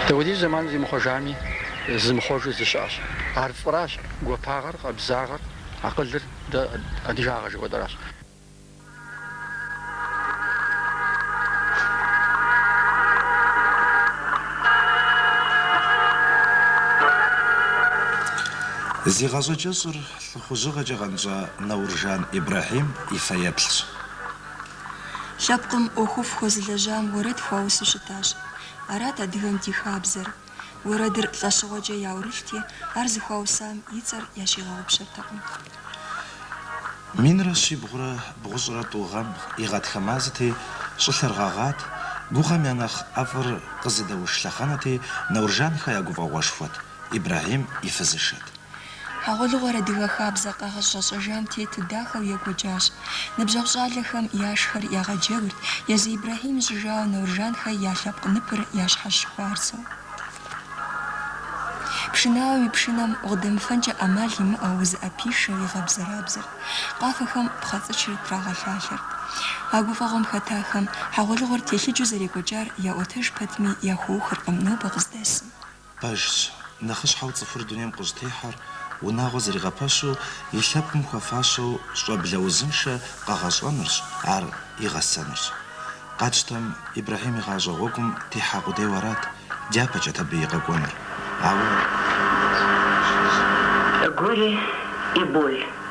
Дауэдиз зэман зимыхъуэжами, зимыхъуэжу зы щыӏэщ. Ар фӏыращ, гуапагъэр, къабзагъэр, акъылыр, дэ адыгагъэ жыхуэтӏэращ. Зи гъащӏэ кӏэщӏыр лӏыхъужьыгъэкӏэ къэнщӏа Науржан Ибрэхьим и фэеплъщ. Лъэпкъым ӏуэхуфӏ хуэзылэжьам уэрэд хуаусу щытащ. Арат адыгэм ди хабзэр. Уэрэдыр лӏэщыгъуэкӏэ яӏурылъти, ар зыхуаусам и цӏэр ящигъэгъупщэртэкъым. Минрэ щибгъурэ бгъущӏрэ тӏу гъэм и гъатхэ мазэти, щӏылъэр гъэгъат, гугъэм я нэхъ ӏэфӏыр къызыдэуш лъэхъэнэти, Науржанхэ я гуфӏэгъуэшхуэт. Ибрэхьим и фызышэт. Хьэгъуэлӏыгъуэр адыгэ хабзэ къагъэщӏэрэщӏэжам тету дахэу екӏуэкӏащ. Ныбжьэгъу щӏалэхэм я шыхэр ягъэджэгурт, езы Ибрэхьим ищӏыжауэ Науржанхэ я лъэпкъ ныпыр ящхьэщыхуарзэу. Пшынауэм и пшынэм укъыдэмыфэнкӏэ ӏэмал имыӏэу узыӏэпишэу игъэбзэрабзэрт, къафэхэм пхъэцӏычыр трагъэлъалъэрт. А гуфӏэгъуэм хэтахэм хьэгъуэлӏыгъуэр телъыджэу зэрекӏуэкӏар яӏуэтэж пэтми яхуэухыркъым нобэ къыздэсым. Пэжщ, нэхъыщхьэу цӏыхур дунейм къыщӏытехьэр, унагъуэ зэригъэпэщу, и лъэпкъым хуэфащэу щӏэблэ узыншэ къэгъэщӏэнырщ, ар игъэсэнырщ. Къатщтэм, Ибрэхьим и гъащӏэ гъуэгум техьа къудейуэ арат, дяпэкӏэт абы и къэкӏуэнур, ауэ. Горе и боль.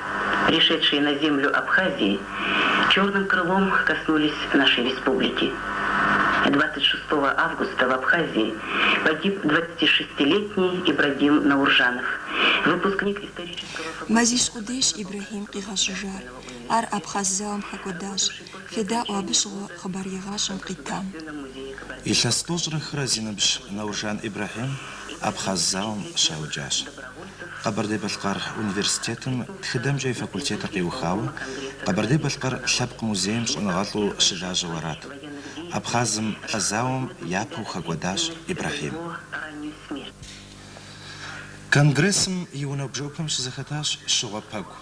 пришедшие на землю Абхазии, черным крылом коснулись нашей республики. Двадцать шестого августа в Абхазии погиб двадцатишестилетний Ибрагим Науржанов, выпускник исторического факультета. Мазищ къудейщ Ибрэхьим къигъэщӏэжар. Ар Абхъаз зауэм хэкӏуэдащ. Федаӏуэ абы щыгъуэ хъыбарегъащӏэм къитам. Илъэс тӏощӏрэ хырэ зи ныбжь Науржан Ибрэхьим Абхъаз зауэм щаукӏащ. Къэбэрдей-Балъкъэр университетым тхыдэмкӏэ и факультетыр къиухауэ Къэбэрдей-Балъкъэр лъэпкъ музейм щӏэныгъэлӏу щылажьэу арат. Абхъазым а зауэм япэу хэкӏуэдащ Ибрэхьим. Конгрессым и унэ бжэупэм щызэхэтащ щыгъуэ пэкӏу.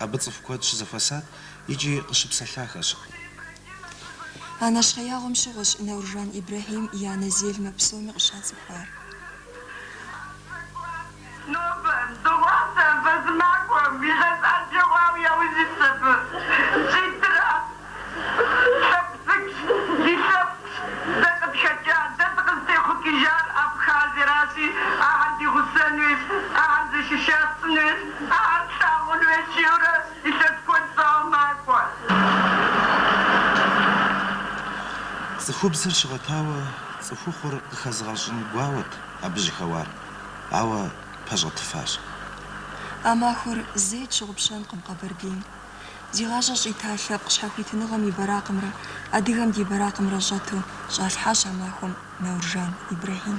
Абы цӏыху куэд щызэхуэсат икӏи къыщыпсэлъахэщ. А нэщхъеягъуэм щыгъуэщ Науржан Ибрэхьим и анэ Зельмэ псоми къыщацӏыхуар. Нобэ, дыгъуасэ, бэзымакӏуэм илъэс ӏэджэ хъуауэ яужь итщ абы. Зитӏрэ лъэпкъ цӏыкӏущ, ди лъэпкъщ, дэ къытхэкӏа, дэ дыкъызытехъукӏыжар Абхазиеращи, ахэр ди гъусэн хуейщ, ахэр зэшышащын хуейщ, ахэр тлъагъун хуейщ, жиӏэурэ илъэс куэд щӏауэ макӏуэ. Цӏыхубзыр щыгъэтауэ Цӏыхухъур къыхэзыгъэщӏын гуауэт абы жьыхэуар, ауэ пэщӏэтыфащ. А махуэр зэи тщыгъупщэнкъым Къэбэрдейм. Зи гъащӏэ щӏита лъэпкъ щхьэхуитыныгъэм и бэракъымрэ адыгэм ди бэракъымрэ щӏэту щӏалъхьащ а махуэм Науржан Ибрэхьим.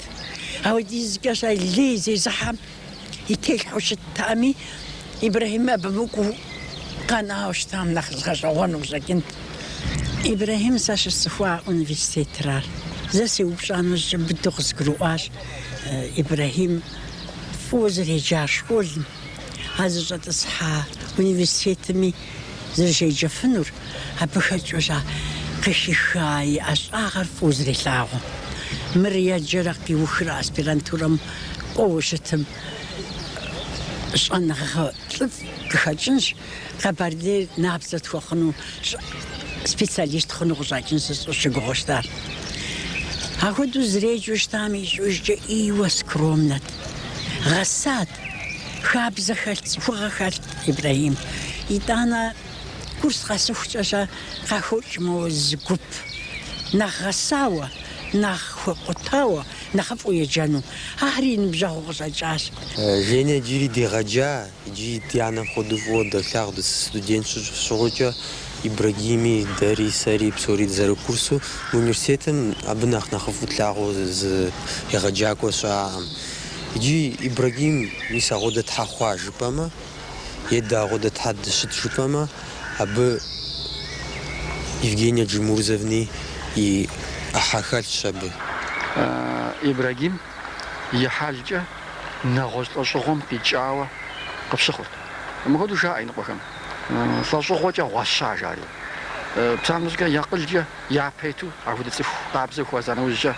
щабэ иӏэт. Апхуэдизкӏэщэ лей зезыхьэм и телъхьэу щыттами, Ибрэхьим абы мыкӏуу къэнауэ щытам нэхъ згъэщӏэгъуэну къыщӏэкӏынт. Ибрэхьим сэ щысцӏыхуа университетыра. Зэ сеупщӏа нэужькӏэ быдэу къызгурыӏуащ Ибрэхьим фӏыуэ зэреджар школым. А зыщӏэтӏысхьа университетми зэрыщеджэфынур, абы хэкӏыущэ къыхиха и ӏэщӏагъэр фӏыуэ зэрилъагъу. Мыр еджэрэ къиухрэ аспирантурэм кӏуэуэ щытым щӏэныгъэ лӏыфӏ къыхэкӏынщ, Къэбэрдейр набдзэ тхуэхъуну специалист хъуну къыщӏэкӏынщ жысӏэри сыщыгугъыу щытар. Ахуэдэу зэреджэу щытам ищӏыӏужкӏэ ӏейуэ скромнэт. Гъэсат, хабзэ хэлът, цӏыхугъэ хэлът Ибрэхьим. Итӏанэ курс къэсыхукӏэщэ къахокӏ мо зы гуп. Нэхъ гъэсауэ, нэхъ хуэкъутауэ нэхъыфӏу еджэну. Ахэр и ныбжьэгъуу къыщӏэкӏащ. Женя джыри дегъэджа. Иджы ди анэ хуэдэу фӏыуэ долъагъу дыстудент щыгъуэкӏэ, Ибрагими, дэри, сэри, псори дызэрыкурсу. Мы университетым абы нэхъ нэхъыфӏу тлъагъуу зы егъэджакӏуэ щыӏакъым. Иджы Ибрагим мис ахуэдэ щхьэ хъуа жыпӏэмэ, е дэ ахуэдэ щхьэ дыщыт жыпӏэмэ, абы Евгения Джамурзовнэ и ӏыхьэ хэлъщ абы. Ибрагим и хьэлкӏэ нэгъуэщӏ лӏэщӏыгъуэм къикӏауэ къыпщыхъурт. Мыпхуэдэу жаӏэ иныкъуэхэм, Лӏэщӏыгъуэкӏэ гъуэща, жари. Псалъэм щхьэкӏэ, я акъылкӏэ япэ иту апхуэдэ цӏыху къабзэ хуэза нэужькӏэ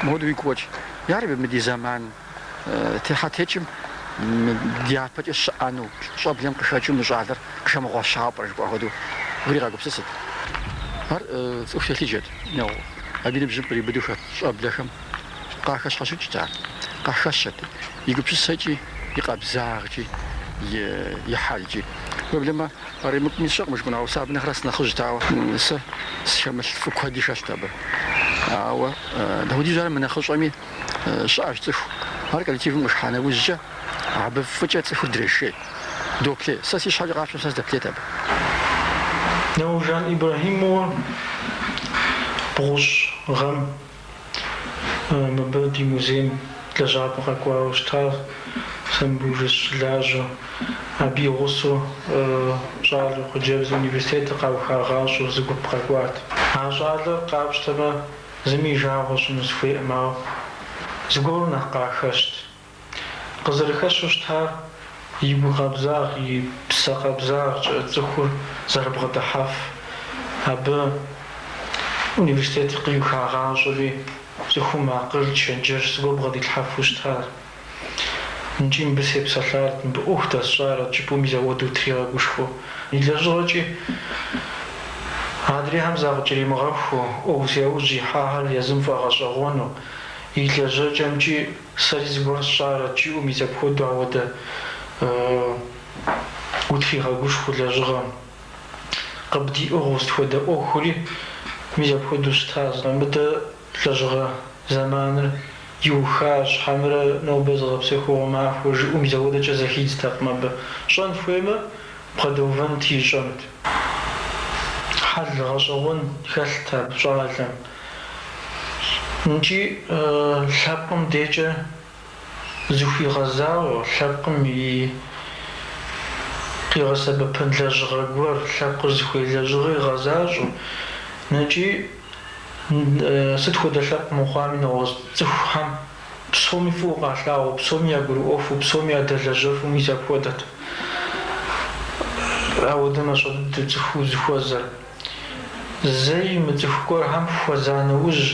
мыпхуэдэу уигу къокӏ. Ярэби, мы ди зэман техьэтекӏым дяпэкӏэ щыӏэну, щӏэблэм къыхэкӏыу мы щӏалэр къыхэмыгъуэщауэ пӏэрэ жыпӏа хуэдэу уригъэгупсысырт. Ар цӏыху телъыджэт, ну, абы и ныбжьым къриубыдэу хэт щӏэблэхэм. къахэщхьэхукӏт ар, къахэщэт и гупсысэкӏи, и къабзагъкӏи, и хьэлкӏи. Проблемэ къаримыкӏуми сщӏэкъым жыпӏэну, ауэ сэ абы нэхърэ сынэхъыжьт, ауэ сэ схэмылъ фӏы куэди хэлът абы. Ауэ дапхуэдизу ар мынэхъыщӏэми щыӏэщ цӏыху. Ар коллективым къыхыхьа нэужькӏэ, абы фӏыкӏэ цӏыхур дрешей, доплъей. Сэ си щхьэкӏэ къапщтэм сэ сдэплъейт абы. Науржан Ибрэхьим уэ бгъущӏ гъэм Мыбы ди музейм лэжьапӏэ къэкӏуауэ щытащ сэ мыбдеж сыщылажьэу. Абы и гъусэу щӏалэу хъыджэбзу университетыр къаухагъащӏэу зы гуп къэкӏуат. А щӏалэр къапщтэмэ, зыми и жагъуэ сщӏыну сыхуейкъым, ауэ зыгуэру нэхъ къахэщт. Къызэрыхэщу щытар и гу къабзагъ, и псэ къабзагъкӏэ цӏыхур зэрыбгъэдыхьэф. Абы университетыр къиухагъащӏэри, цӏыхум акъыл, чэнджэщ зыгуэр бгъэдилъхьэфу щытар. Нкӏи мыбы сепсэлъарэт, мыбы ӏуэху дэсщӏарэт жыпӏэу мис ауэдэу утригъэгушхуэу. И лэжьыгъэкӏи, адрейхэм закъыкӏэримыгъэхуу, ӏуэху зи ужь ихьахэр езым фӏэгъэщӏэгъуэну, и лэжьэкӏэмкӏи, Сэри зыгуэр сщӏарэт жыпӏэу мис апхуэдэу ауэдэ утригъэгушхуэу лэжьыгъэм. Къыбдиӏыгъыу сыт хуэдэ ӏуэхури мис апхуэдэу щытащ, мыдэ лэжьыгъэ зэманыр иухащ, хьэмрэ нобэ зыгъэпсэхугъуэ махуэщ жиӏэу мис ауэдэкӏэ зэхидзтэкъым абы. Щӏэн хуеймэ, бгъэдэувэнт ищӏэнт. Хьэл гъэщӏэгъуэн хэлът абы щӏалэм. Нкӏи лъэпкъым декӏэ зыхуигъэзауэ, лъэпкъым и къигъэсэбэпын лэжьыгъэ гуэр, лъэпкъыр зыхуей лэжьыгъэ игъэзащӏэу, нэкӏи сыт хуэдэ лъэпкъ мыхъуами, нэгъуэщӏ цӏыхухэм псоми фӏыуэ къалъагъуу, псоми ягурыӏуэфу, псоми ядэлэжьэфу мис апхуэдэт ауэдэ мащӏэ дыдэу цӏыху узыхуэзэр. Зэи имыцӏыху гуэрхэм хуэза нэужь,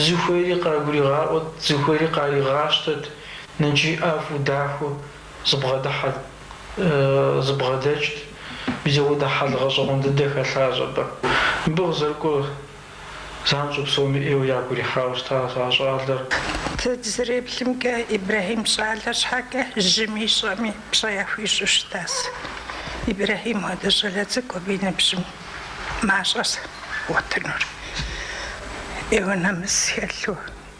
зыхуейри къагуригъаӏуэт, зыхуейри къаригъащтэт, нэкӏи ӏэфӏу дахэу зыбгъэдыхьэт, зыбгъэдэкӏт, мис ауэдэ хьэл гъэщӏэгъуэн дыдэ хэлъащ абы. Мыбы къызэрыкӏуэр Занщӏэу псоми ӏейуэ ягу ирихьауэ щытащ а щӏалэр. Дэ дызэреплъымкӏэ, Ибрэхьим щӏалэ щхьэкӏэ жьыми щӏэми пщӏэ яхуищӏу щытащ. Ибрэхьим хуэдэ щӏалэ цӏыкӏу абы и ныбжьым мащӏэщ бгъуэтынур. Ӏейуэ нэмыс хэлъу,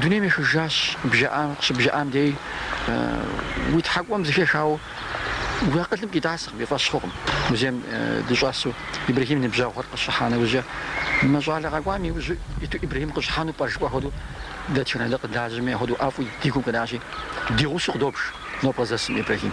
Дунейм ехыжащ бжаӏам, къыщыбжаӏам дей уи тхьэкӏумэм зыхехауэ уи акъылым къитӏасэкъым, и фӏэщ хъукъым. Музейм дыщӏэсу Ибрэхьим ныбжьэгъухэр къыщӏыхьа нэужькӏэ, мы щӏалэ къэкӏуам и ужьу иту Ибрэхьим къыщӏыхьэну пӏэ жыпӏэ хуэдэу дэ Чэнэлыр къыдажьэми апхуэдэу ӏэфӏу ди гум къинащи, ди гъусэу къыдобж нобэ къыздэсым Ибрэхьим.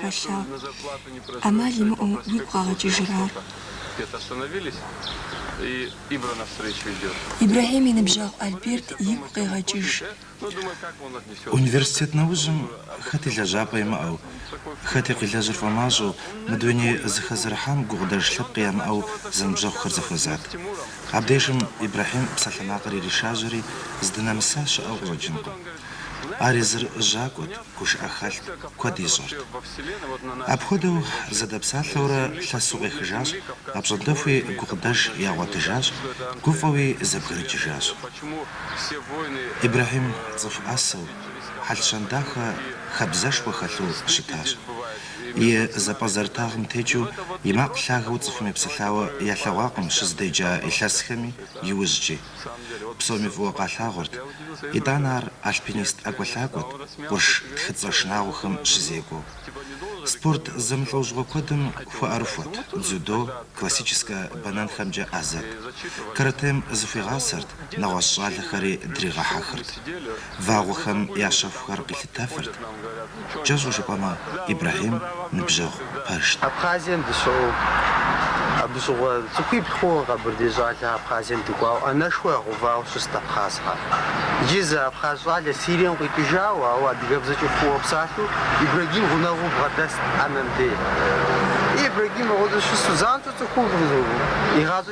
хэлъагъу. ӏэмал имыӏэу уигу къэгъэкӏыжыр ар. Ибрэхьим и ныбжьэгъу Альберт игу къегъэкӏыж. Университет нэужьым хэти лэжьапӏэ имыӏэу, хэти къилэжьыр фӏэмащӏэу, мы дуней зыхэзэрыхьам гукъыдэж лъэпкъ ямыӏэу зэныбжьэгъухэр зэхуэзат. Абдежым Ибрэхьим псалъэмакъыр иришажьэри, здынэмыса щыӏэу къыщӏэкӏынкъым. Ар езыр жьакӏуэт, гушыӏэ хэлът, куэд ищӏэрт. Апхуэдэу зэдэпсалъэурэ лъэсу къехыжащ, апщӏондэхуи гукъыдэж ягъуэтыжащ, гуфӏэуи зэбгрыкӏыжащ. Ибрэхьим цӏыху ӏэсэу, хьэл-щэн дахэ хабзэшхуэ хэлъу щытащ. И зэпӏэзэрытагъым текӏыу, и макъ лъагэу цӏыхум епсэлъауэ ялъэгъуакъым щызыдеджа илъэсхэми, иужькӏи. Псоми фӏыуэ къалъагъурт. Итӏанэ ар альпинист ӏэкӏуэлъакӏуэт, къурш тхыцӏэ шынагъуэхэм щызекӏуэу. Спорт зэмылӏэужьыгъуэ куэдым хуэӏэрыхуэт, дзюдо, классическэ бэнэнхэмкӏэ ӏэзэт. Каратэм зыхуигъасэрт, нэгъуэщӏ щӏалэхэри дригъэхьэхырт. вагъуэхэм я щэхухэр къилъытэфырт. Кӏэщӏу жыпӏэмэ, Ибрэхьим ныбжьэгъу пэжт. Абхъазием дыщыӏэу, абы щыгъуэ цӏыхуибл хъууэ Къэбэрдей щӏалэ Абхъазием дыкӏуауэ, ӏэнэшхуэ ягъэувауэ щыст абхъазхэр. Иджы зы абхъаз щӏалэ Сирием къикӏыжауэ, ауэ адыгэбзэкӏэ фӏыуэ псалъэу Ибрагим гъунэгъуу бгъэдэст ӏэнэм де. Ибрагим мыгъуэзу щысу занщӏэу цӏыхубл игъащӏэкӏыу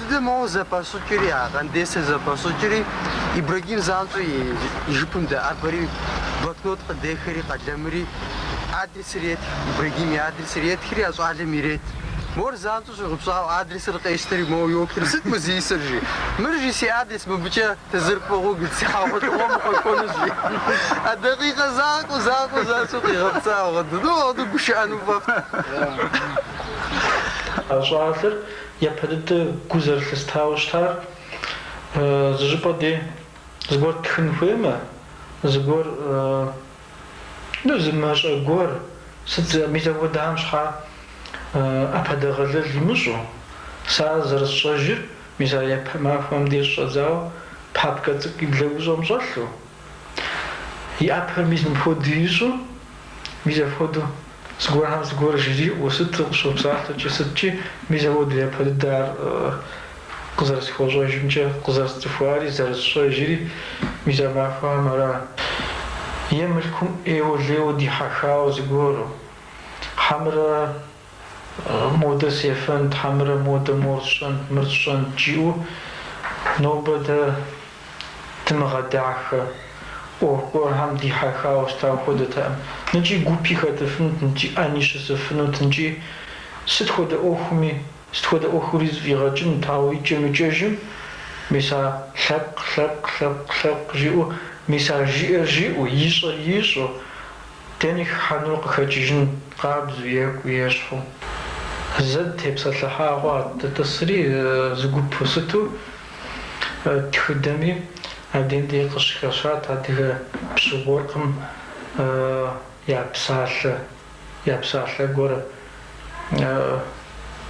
Дыдэ моуэ зэпэщӏыкӏри, а Къандесыр зэпэщӏыкӏри, Ибрагим занщӏэу и жыпым дэӏэбэри, блокнот къыдехэри, къэлэмри, адресыр етх, Ибрагим и адресыр етхри, а щӏалэм ирет. Мор занщӏэу щӏигъупщӏауэ, адресыр къещтэри, моуэ йоплъри, Сыт мы зи исыр, жи. Мыр, жи, си адрес, мыбыкӏэ дызэрыӏыгъыу си хьэгъуэлӏыгъуэм укъэкӏуэнущ, жи. А дакъикъэ закъуэу, закъуэу занщӏэу къигъэпцӏауэ, Дыдэ, уэ абы гушыӏэну фӏэфӏт. А щӏалэр Япэ дыдэ гу зэрылъыстауэ щытар, зыщӏыпӏэ де зыгуэр тхын хуеймэ, зыгуэр, ну, зы мащӏэ гуэр, сыт, мис апхуэдэхэм щхьа ӏэпэдэгъэлэл имыщӏу? Сэ ар зэрысщӏэжыр, мис а япэ махуэм деж щӏэдзауэ, папкэ цӏыкӏу и блэгущӏэм щӏэлъу, И ӏэпэр мис мыпхуэдэу ищӏу, мис апхуэдэу зыгуэрхэм зыгуэр жриӏэу сыт къищӏу псалъэкӏи сыткӏи, мис апхуэдэу япэ дыдэ ар къызэрысхуэщӏэжымкӏэ, къызэрысцӏыхуари, зэрысщӏэжри, мис а махуэхэм ара? Е мылъкум ӏейуэ-лейуэ дихьэхауэ зыгуэру, хьэмэрэ Модэ сефэнт, хьэмэрэ модэ мор сщӏэнт, мыр сщӏэнт, жиӏэу нобэ дэ дымыгъэдахэ ӏуэху гуэрхэм дихьэхауэ щытауэ хуэдэтэкъым. Ныкӏи гупи хэтыфынут, ныкӏи ӏэни щысыфынут, ныкӏи сыт хуэдэ ӏуэхуми, сыт хуэдэ ӏуэхури зэфӏигъэкӏынут, ауэ икӏэм-икӏэжым мис а лъэпкъ, лъэпкъ, лъэпкъ, лъэпкъ жиӏэу, мис а жиӏэр жиӏэу, ищӏэр ищӏэу, Дэнэ хыхьэнур къыхэкӏыжын къабзэу, екӏуу, ещхьу. Зэ дытепсэлъыхьауэ, дытӏысри зы гупу сыту тхыдэми, абдеим деж къыщыхэщат адыгэ пщы-уэркъым я псалъэ, я псалъэ гуэр,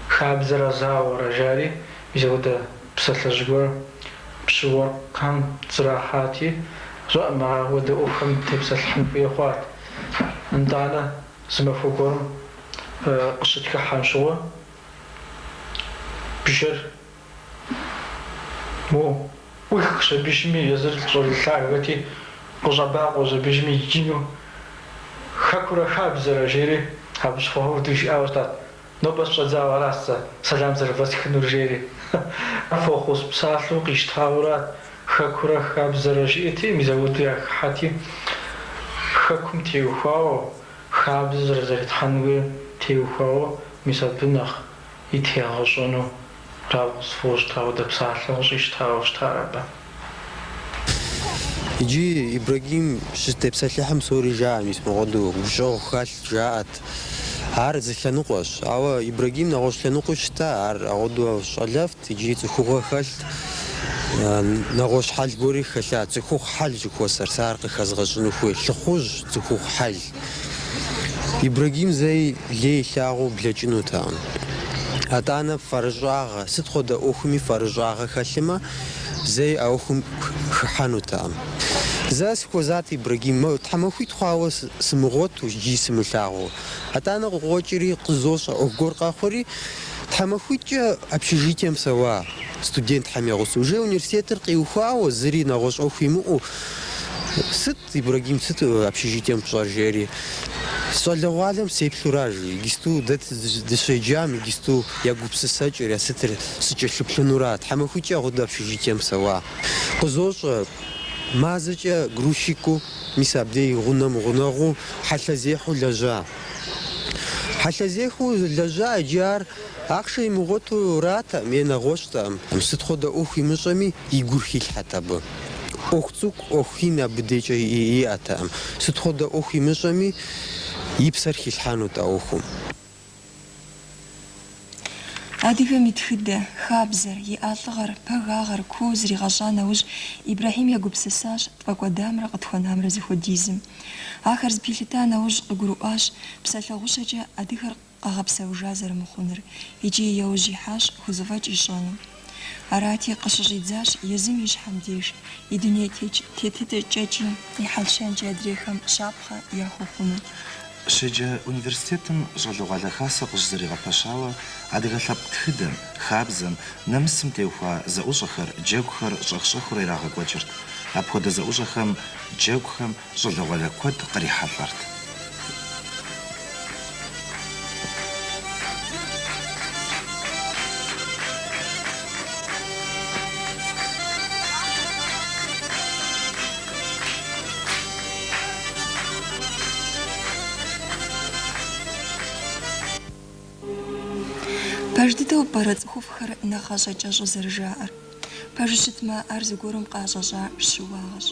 хабзэрэ зауэрэ жари, мис апхуэдэ. Псалъэжь гуэр пщы-уэркъхэм зэрахьэти, щыжаӏэм ауэдэ ӏуэхухэм тепсэлъыхьын хуей хъуат. Итӏанэ зы махуэ гуэрым къыщытхыхьэм щыгъуэ, бжэр моу ӏуихщ абыщми, езыр щӏалэ лъагэти, къыщӏэбакъуэщ абыщми, икӏи ину хэкурэ хабзэрэ, жери абы щхъуэхэу дыжиӏауэ щытат. Нобэ щыщӏэдзауэ аращ сэ сэлам зэрывэсхынур, жери фӏэхъус псалъэу къищтауэра, хэкурэ хабзэрэ жиӏэти, мис ауэду яхыхьэти, хэкум теухуауэ, хабзэ зэрызэритхьэнуи теухуауэ, мис абы нэхъ и тегъэщӏэну Ауэ сфӏощӏ ауэдэ псалъэу къыщӏищтауэ щытар абы. Иджы Ибрагим щытепсэлъыхьым псори жаӏэ, мис мыгъуэду гущӏэгъу хэлът, жаӏэт. Ар зы лъэныкъуэщ. Ауэ Ибрагим нэгъуэщӏ лъэныкъуи щыта, ар ауэду щӏалэфӏт, икӏи цӏыхугъэ хэлът. Нэгъуэщӏ хьэл гуэри хэлъат, цӏыхухъу хьэл жыхуэсӏэр, сэ ар къыхэзгъэщыну хуей, лӏыхъужь цӏыхухъу хьэл. Ибрагим зэи лей илъагъуу блэкӏынутэкъым. Атӏанэ фэрыщӏагъэ, сыт хуэдэ ӏуэхуми фэрыщӏагъэ хэлъымэ, зэи а ӏуэхум хыхьэнутэкъым. Зэ сыхуэзат Ибрагим, моу, тхьэмахуитӏ хъуауэ сымыгъуэту икӏи сымылъагъуу. Атӏанэ къыкъуэкӏри, къызощӏэ, ӏуэху гуэр къэхъури, тхьэмахуитӏкӏэ общежитием псэуа студентхэм я гъусэу, уже университетыр къиухуауэ, зыри нэгъуэщӏ ӏуэху имыӏэу, сыт Ибрагим сыт общежитием пщӏэр жери, щӏалэгъуалэм сеплъу аращ жи, иджысту дэ дыщеджам иджысту я гупсысэкӏэр, я сытыр сыкӏэлъыплъынура, тхьэмахуитӏкӏэ хуэдэ общежитием псэуа. Къызощӏэ, мазэкӏэ грузчикыу, мис абдей гъунэм гъунэгъуу хьэлъэзехьэу лэжьа. Хьэлъэзехьэу лэжьа иджы ар ахъшэ имыгъуэту аратэкъым е нэгъуэщӏтэкъым. Сыт хуэдэ ӏуэху имыщӏэми, и гур хилъхьэт абы. ӏуэху цӏыкӏу, ӏуэху ин абы декӏэ иӏэтэкъым. Сыт хуэдэ ӏуэху имыщӏэми, и псэр хилъхьэнут а ӏуэхум. Адыгэм и тхыдэ, хабзэр, и лӏыгъэр, пэгагъэр, куу зригъэщӏа нэужь, Ибрэхьим егупсысащ тфӏэкӏуэдамрэ къытхуэнамрэ зыхуэдизым. Ахэр зэпилъыта нэужь, къыгурыӏуащ, псалъэ гъущэкӏэ адыгэр къэгъэпсэужа зэрымыхъунур икӏи яужь ихьащ хузэфӏэкӏ ищӏэну. Арати, къыщыщӏидзащ езым и щхьэм деж и дуней тетыкӏэкӏи и хьэл-щэнкӏи адрейхэм щапхъэ яхуэхъуну. Щеджэ университетым щӏалэгъуалэ хасэ къыщызэригъэпэщауэ адыгэ лъэпкъ тхыдэм, хабзэм, нэмысым теухуа зэӏущӏэхэр, джэгухэр щӏэх-щӏэхыурэ ирагъэкӏуэкӏырт. Апхуэдэ зэӏущӏэхэм, джэгухэм щӏалэгъуалэ куэд кърихьэлӏэрт. Пэж дыдэу пӏэрэ цӏыхуфӏхэр нэхъ гъащӏэ кӏэщӏу зэрыжаӏэр? Пэжу щытмэ, ар зыгуэрым къыӏэщӏэщӏа щыуагъэщ.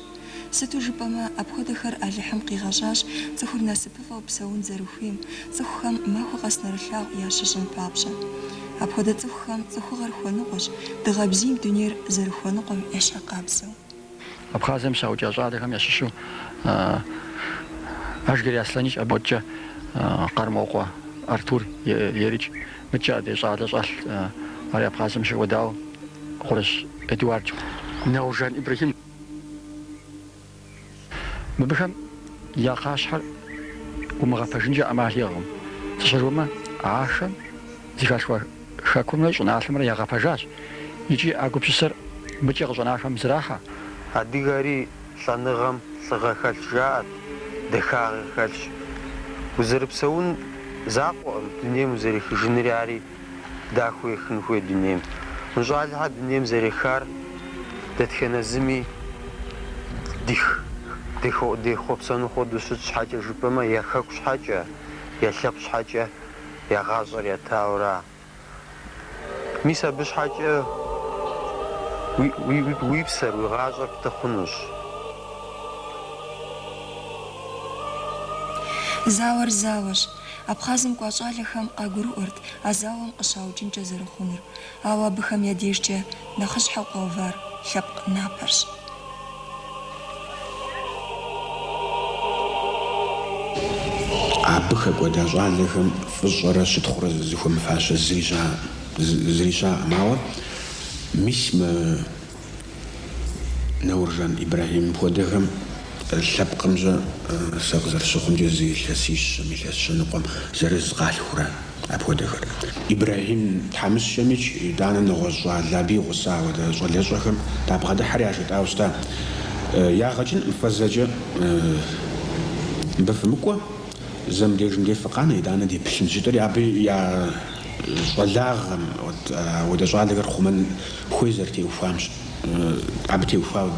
Сыту жыпӏэмэ, апхуэдэхэр Алыхьым къигъэщӏащ цӏыхур насыпыфӏэу псэун зэрыхуейм, цӏыхухэм махуэ къэс нэрылъагъу ящищӏын папщӏэ. Апхуэдэ цӏыхухэм цӏыхугъэр хуэныкъуэщ, дыгъэ бзийм дунейр зэрыхуэныкъуэм ещхьыркъабзэу. Абхъазием щаукӏа щӏалэхэм ящыщу Ажгэрей Аслъэныкӏ, абы мыдкӏэ Къармокъуэ Артур ерыкӏ. Мыдкӏэ адрей щӏалэ щӏэлъ, ари Абхъазием щыкӏуэдауэ, Къурыщ Эдуардщ, Науржан Ибрэхьим. Мыбыхэм я кхъащхьэр умыгъэпэжынкӏэ ӏэмал иӏэкъым, сыт щхьэ жыпӏэмэ, ахэм. Зыхалъхуа хэкумрэ щӏыналъэмрэ ягъэпэжащ икӏи а гупсысэр мыдкӏэ къыщӏэнахэм зрахьэ. Адыгэри лӏэныгъэм лӏыгъэ хэлъщ жаӏэрт, дахагъи хэлъщ. Узэрыпсэун закъуэкъым дунейм узэрехыжынри ари дахэу ехын хуей дунейм. Мы щӏалэхэр дунейм зэрехар дэтхэнэ зыми дехъуэпсэну хуэдэущ, сыт щхьэкӏэ жыпӏэмэ, я хэку щхьэкӏэ, я лъэпкъ щхьэкӏэ. я гъащӏэр ятауэра? Мис абы щхьэкӏэ уи псэр, уи гъащӏэр пты хъунущ. Зауэр зауэщ. Абхъазым кӏуа щӏалэхэм къагурыӏуэрт а зауэм къыщаукӏынкӏэ зэрыхъунур. Ауэ абыхэм я дежкӏэ нэхъыщхьэу къэувар лъэпкъ напэрщ. Абы хэкӏуэда щӏалэхэм фӏыщӏэрэ щытхъурэ зызыхуэмыфащэ зыри щаӏэкъым. Ауэ мис мы Нэуржан Ибрахьимым хуэдэхэм лъэпкъым-щэ сэ къызэрыщыхъумкӏэ зы илъэсищэм, илъэс щэныкъуэм зырыз къалъхура апхуэдэхэр. Ибрахьим тхьэмыщкӏэмикӏ, итӏанэ нэгъуэщӏ щӏалэ абы и гъуса ауэдэ щӏалэщӏэхэм дабгъэдыхьэри яжетӏауэ щыта. Ягъэ кӏынкъым, фэ зэкӏэ мыбы фымыкӏуэ, зэ мыбдежым деж фыкъанэ, итӏанэ деплъынщ, жытӏэри абы я щӏалагъэм ауэдэ щӏалэхэр хъумэн Хуей зэрытеухуам-щэ, абы теухуауэ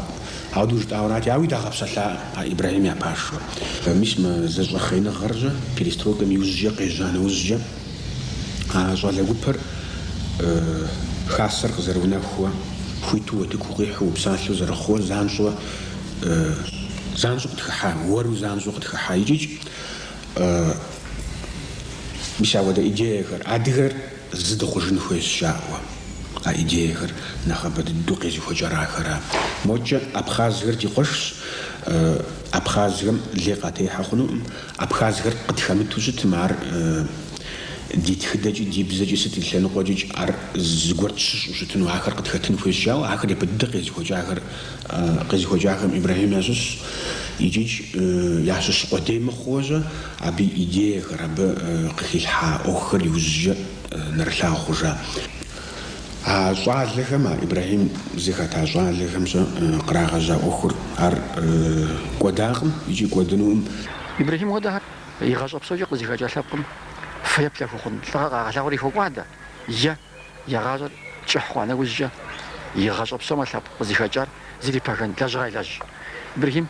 ауэдэу жытӏауэрати, ауи дагъэпсэлъакъым а Ибрахьим я пашэу. Мис мы зэщӏэхъееныгъэр-щэ перестройкэм иужькӏэ къежьа нэужькӏэ а щӏалэ гупэр хасэр къызэрыунэхууэ, хуиту уэтыку къихьу упсалъэу зэрыхъууэ занщӏэу занщӏэу къытхыхьа, уэру занщӏэу къытхыхьа икӏикӏ мис ауэдэ идеяхэр адыгэр Зы дыхъужын хуейщ жаӏэуэ. А идеяхэр нэхъыбэ дыдэу къезыхуэкӏар ахэра. Модкӏэ абхъазхэр ди къуэшщ, абхъазхэм лей къатехьэ хъунукъым, абхъазхэр къытхэмыту щытмэ, ар ди тхыдэкӏи ди бзэкӏи сыт и лъэныкъуэкӏикӏ ар зыгуэр тщыщӏу щытыну ахэр къытхэтын хуейщ жаӏэуэ, ахэр япэ дыдэ къезыхуэкӏахэр, къезыхуэкӏахэм Ибрэхьим ящыщщ, икӏикӏ ящыщ къудей мыхъууэ-щэ Абы и идеяхэр, абы къыхилъхьа ӏуэхухэр иужькӏэ нэрылъагъу хъужа а щӏалэхэм, а Ибрэхьим зыхэта щӏалэхэм-щэ кърагъэжьа ӏуэхур, ар кӏуэдакъым икӏи кӏуэдынукъым. Ибрэхьим хуэдэхэр игъащӏэ псокӏэ къызыхэкӏа лъэпкъым фэеплъ хуэхъун лӏыгъэ къагъэлъагъури хокӏуадэ, е, я гъащӏэр кӏыхь хъуа нэужькӏэ, и гъащӏэ псомэ лъэпкъ къызыхэкӏар зэрыпэгэн лэжьыгъэ елэжь. Ибрэхьим.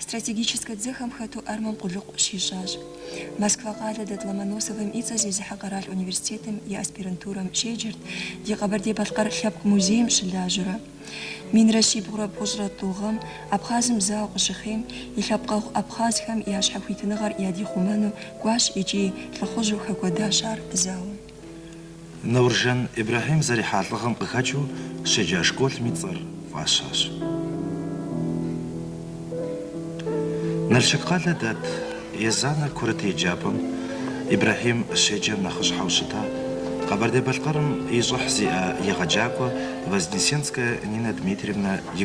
Стратегическэ дзэхэм хэту армэм къулыкъу щищӏащ. Москва къалэ дэт Ломоносовым и цӏэ зезыхьэ къэрал университетым и аспирантурэм щеджэрт, ди Къэбэрдей-Балъкъэр лъэпкъ музейм щылажьэурэ. Минрэ щибгъурэ бгъущӏрэ тӏу гъэм Абхъазым зауэ къыщыхъейм, и лъэпкъэгъу абхъазхэм я щхьэхуитыныгъэр ядихъумэну кӏуащ икӏи лӏыхъужьу хэкӏуэдащ ар зауэм. Науржан Ибрэхьим зэрихьа лӏыгъэм къыхэкӏыу щеджа школым и цӏэр фӏащащ. Налшык къалэ дэт Езанэ курыт еджапӏэм Ибрэхьим щеджэм нэхъыщхьэу щыта Къэбэрдей-Балъкъэрым и щӏыхь зиӏэ егъэджакӏуэ Вознесенская Нинэ Дмитриевнэ и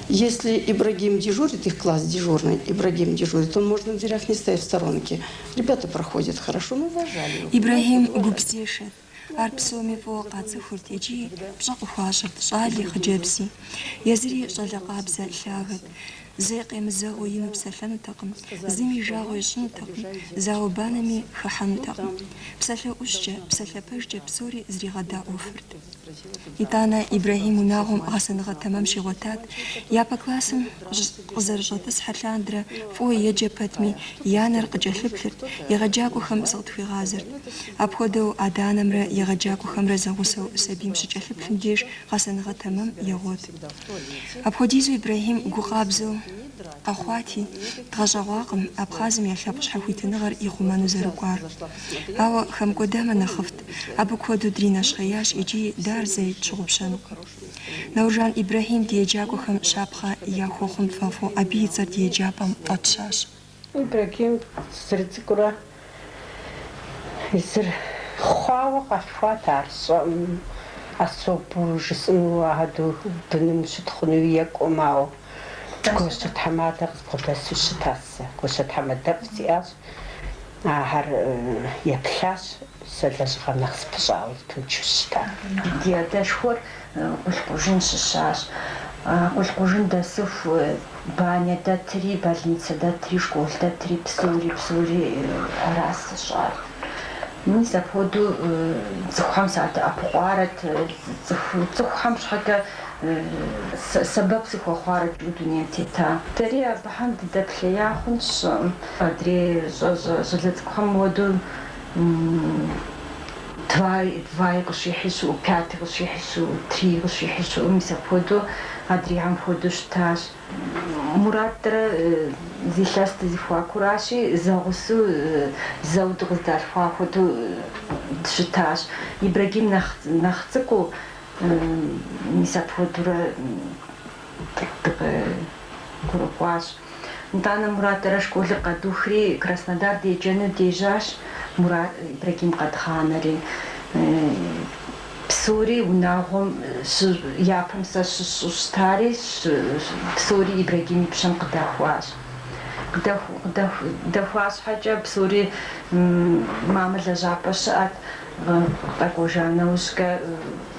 Если Ибрагим дежурит, их класс дежурный Ибрагим дежурит, он может на дверях не стоять в сторонке. Ребята проходят хорошо, мы уважали его. Ибрагим гупзешэт. Ар псоми фӏыуэ къацӏыхурт икӏи пщӏэ къыхуащӏырт щӏали, хъыджэбзи. Езыри щӏалэ къабзэ, лъагэт. Зэи къемызэгъыу ину псэлъэнутэкъым, зыми и жагъуэ ищӏынутэкъым, зауэ-банэми хыхьэнутэкъым. Псалъэ ӏущкӏэ, псалъэ пэжкӏэ псори зригъэдаӏуэфырт. Итӏанэ Ибрэхьим унагъуэм гъэсэныгъэ тэмэм щигъуэтат. Япэ классым къызэрыщӏэтӏысхьэ лъандэрэ фӏыуэ еджэ пэтми, и анэр къыкӏэлъыплъырт, егъэджакӏуэхэм зыкъытхуигъазэрт. Апхуэдэу адэ-анэмрэ егъэджакӏуэхэмрэ зэгъусэу сабийм щыкӏэлъыплъым деж гъэсэныгъэ тэмэм егъуэт. Апхуэдизу Ибрэхьим гу къабзэу къэхъуати, дгъэщӏэгъуакъым Абхъазым я лъэпкъ щхьэхуитыныгъэр ихъумэну зэрыкӏуар. Ауэ хэмыкӏуэдамэ нэхъыфӏт. Абы куэду дринэщхъеящ икӏи дэ ар зэи тщыгъупщэнукъым. Науржан Ибрэхьим ди еджакӏуэхэм щапхъэ яхуэхъун тфӏэфӏу абы и цӏэр ди еджапӏэм фӏэтщащ. Ибрэхьим зэрыцӏыкӏурэ зыр хъуауэ къалъхуат ар, сщӏэӏым, особу жысӏэну адэу быным щытхъуну екӏуэм, ауэ гуащэ тхьэмадэ къызбгъэдэсу щытащ. Сэ гуащэ тхьэмадэфӏ сиӏащ. Ахэр еплъащ, сэ лэжьыгъэм нэхъ сыпыщӏауэ зэпымычу сыщыта. Ди адэшхуэр Къулъкъужын щыщащ. Къулъкъужын дэсыху банэ дэтри, больницэ дэтри, школ дэтри, псори, псори аращ зыщӏар. Мис апхуэдэу цӏыхухэм садэӏэпыкъуарэт, цӏыхухэм щхьэкӏэ сэбэп сыхуэхъуарэт мы дунейм тета. Дэри абыхэм дыдэплъея хъунщ, сщӏэӏым. Адрей щӏалэ цӏыкӏухэм хуэдэу два-и къыщихьи щыӏэу, пяти къыщихьи щыӏэу, три-и къыщихьи щыӏэу, мис апхуэдэу адрейхэм хуэдэу щытащ. Муратрэ зы илъэс ди зэхуакуращи, зэгъусэу зэуэ дыкъыздалъхуа хуэдэу дыщытащ. Ибрагим нэхъ цӏыкӏуу, мис апхуэдэурэ дыкъэхъуащ. Итӏанэ Мурад сэрэ школыр къэдухри, Краснодар деджэну дежьащ, Мурад Ибрагим къэдгъанэри. Псори унагъуэм япэм сэ щысщӏэу щытари, псори Ибрагим и пщэм къыдэхуащ. Къыдэхуа щхьэкӏэ псори мамэ лэжьапӏэ щыӏэт, къэкӏуэжа нэужькӏэ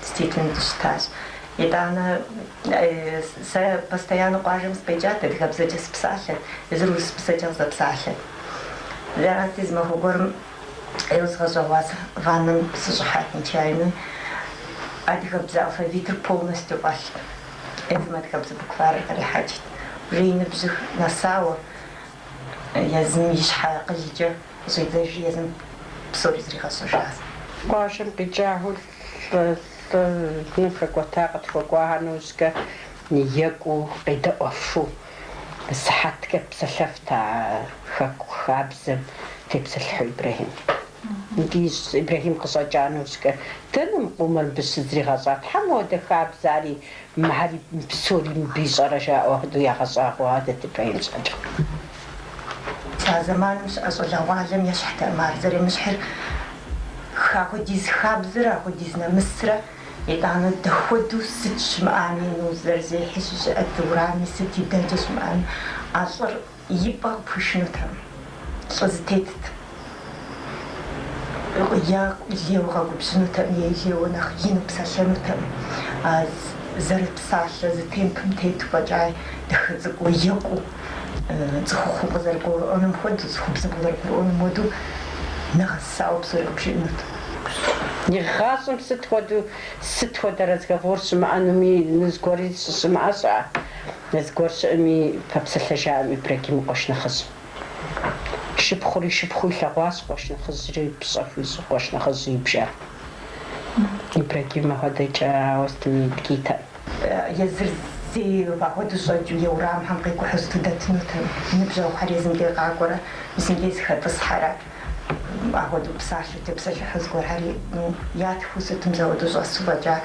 Действительно дыщытащ. Итӏанэ сэ постоянно къуажэм сыкъикӏат, адыгэбзэкӏэ сыпсалъэт, езыр урысыбзэкӏэ къызэпсалъэт. Арати зы махуэ гуэрым ӏейуэ згъэщӏэгъуа сэ ваннэм сыщӏыхьат нечаянно. Адыгэбзэ алфавитыр полностью фӏэлът. Езым адыгэбзэ букварыр кърихьэкӏт. Уже и ныбжьых нэсауэ, езым и щхьэ акъылкӏэ щӏидзэжри, езым псори зригъэщӏэжащ. Къуажэм къикӏа Лӏы, лӏы ныбжь хэкӏуэта къытхуэкӏуахэ нэужькӏэ екӏуу къедэӏуэфу, сыхьэткӏэ псэлъэфт а Хэку хабзэм тепсэлъыхьу Ибрэхьим. Мыбдеж Ибрэхьим къыщӏэкӏа нэужькӏэ, Дэнэ мы къомыр мыбы щызригъэщӏар? Тхьэ мыхуэдэ хабзэ ари Мыхьэри псори мыбы ищӏэрэ жаӏэу хуэдэу ягъэщӏагъуэу ахуэдэт Ибрагим щхьэкӏэ. А зэманым щыӏэ щӏалэгъуалэм ещхьтэкъым ар зэремыщхьыр. Ахуэдиз хабзэрэ ахуэдиз нэмысрэ, итӏанэ дэхуэдэу сыт щымыӏами, ну, зэрызехьи щыщыӏэт, уэрами сыт и дэкӏэ щымыӏэми, а лӏыр И пӏэм пхуишынутэм, лӏы зэтетт. Е лейуэ къэгубжьынутэм е лейуэ нэхъ ину псэлъэнутэм. А зэрыпсалъэ зы темпым тету фӏэкӏа дахэ цӏыкӏуу екӏуу, цӏыхухъум къызэрыгурыӏуэнум хуэдэу, цӏыхубзым къызэрыгурыӏуэнум хуэдэу нэгъэсауэ псори къыбжиӏэнут. Игъащӏэм сыт хуэдэу, сыт хуэдэ разговор щымыӏэнуми, ну, зыгуэри щыщымыӏэ щыӏэ? Зыгуэр щыӏэми, пэпсэлъэжаӏэм Ибрагим къуэш нэхъыжь шыпхъури шыпхъуу илъэгъуащ, къуэш нэхъыжьри пщӏэ хуищӏу къуэш нэхъыжьу ибжа. Ибрагим апхуэдэкӏэ ауэ сытми дгитэкъым. Езыр зэи ахуэдэу щӏэкӏыу е урамхэм къикӏухьу сыту дэтынутэм, ныбжьэгъухэр езым дей къакӏуэрэ, мис иджы зыхэтӏысхьэрэ. Апхуэдэу псалъэу тепсэлъыхьу зыгуэрхэри ятхыу сытым зауэдэу щӏэсу фӏэкӏа.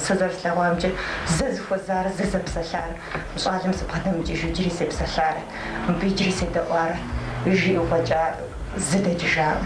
Сэ зэрыслъэгъуамкӏэ, зэ зыхуэзар, зэ зэпсэлъар мы щӏалэм сыбгъэдэмыкӏыжу иджыри сепсэлъарэт, мыбы иджыри седэӏуарэт, жиӏэу фӏэкӏа зы дэкӏыжакъым.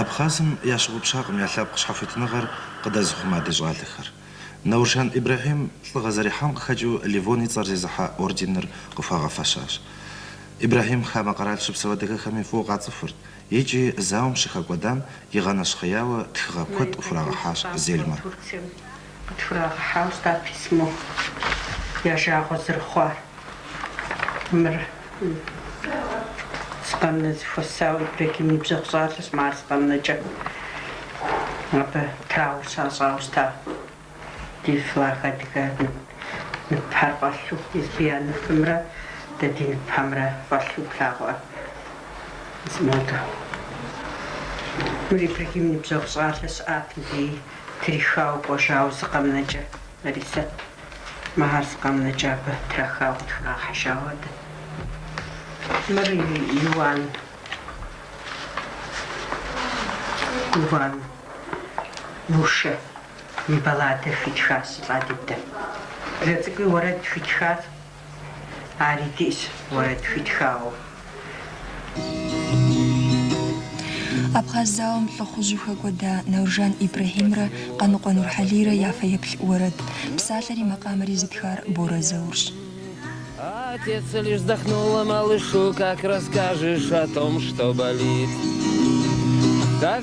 Абхъазым ящыгъупщакъым я лъэпкъ щхьэхуитыныгъэр къыдэзыхъума ди щӏалэхэр. Науржан Ибрэхьим лӏыгъэ зэрихьам къыхэкӏыу Леон и цӏэр зезыхьэ орденыр къыхуагъэфэщащ. Ибрэхьим хамэ къэрал щыпсэу адыгэхэми фӏыуэ къацӏыхурт икӏи зауэм щыхэкӏуэдам игъэнэщхъеяуэ тхыгъэ куэд къыхурагъэхьащ Зельмэ. Къытхурагъэхьауэ щытат письмо я жагъуэ зэрыхъуар. Мыр зы къэмынэ зэхуэсауэ Ибрагим и ныбжьэгъу щӏалэщ, мы ар зы къэмынэкӏэ абы траур щащӏауэ щыта ди флаг адыгэ ныпхэр фӏэлъу, я ныпымрэ дэ ди ныпхэмрэ фӏэлъу плъагъуӏэ зимодэ. Мыр Ибрагим и ныбжьэгъу щӏалэ щыӏат ди Трихауэ кӏуэжауэ зы къэмынэкӏэ, Ларисэ, мэ ар зы къэмынэкӏэ абы трахауэ къытхурагъэхьыжауэ адэ. Мыр Иуан, Иван, Мушэ и балладэ хуитхащ, Лӏадидэ. Блэ цӏыкӏуи уэрэд хуитхащ. Ари диӏэщ уэрэд хуитхауэ. Абхъаз зауэм лӏыхъужьу хэкӏуэда Науржан Ибрэхьимрэ Къаныкъуэ Нурхьэлийрэ я фэеплъ уэрэд, псалъэри макъамэри зытхар Борэ Заурщ. Отец лишь вздохнул, малышу как расскажешь о том что болит так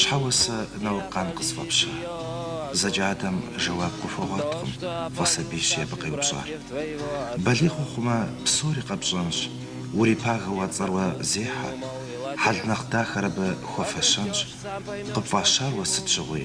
Щхьэ уэ сэ Науркъан къысфӏэпща? Зэкӏэ адэм жэуап къыхуэгъуэткъым фӏы сабийщи абы къеупщӏар. Балигъ ухъумэ, псори къэпщӏэнщ, урипагэу а цӏэр уэ зехьэ, хьэл нэхъ дахэр абы хуэфэщэнщ. Къыпфӏащар уэ сыт щыгъуи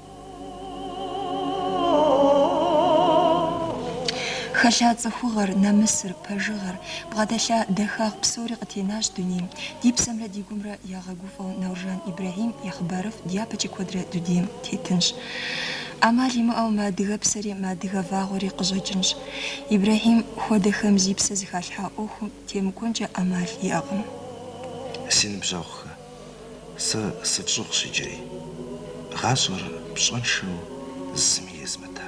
Хэлъа цӏыхугъэр, нэмысыр, пэжыгъэр, бгъэдэлъа дахагъ псори къытенащ дунейм. Ди псэмрэ ди гумрэ ягъэгуфӏэу Науржан Ибрэхьим и хъыбарыфӏ дяпэкӏи куэдрэ дунейм тетынщ. ӏэмал имыӏэу мы адыгэпсэри, мы адыгэ вагъуэри къыщӏэкӏынщ. Ибрэхьим хуэдэхэм зи псэ зыхалъхьа ӏуэхум темыкӏуэнкӏэ ӏэмал иӏэкъым. Си ныбжьэгъухэ! Сэ сыфщӏыгъущ иджыри. Гъащӏэр пщӏэншэу зыми езмыта.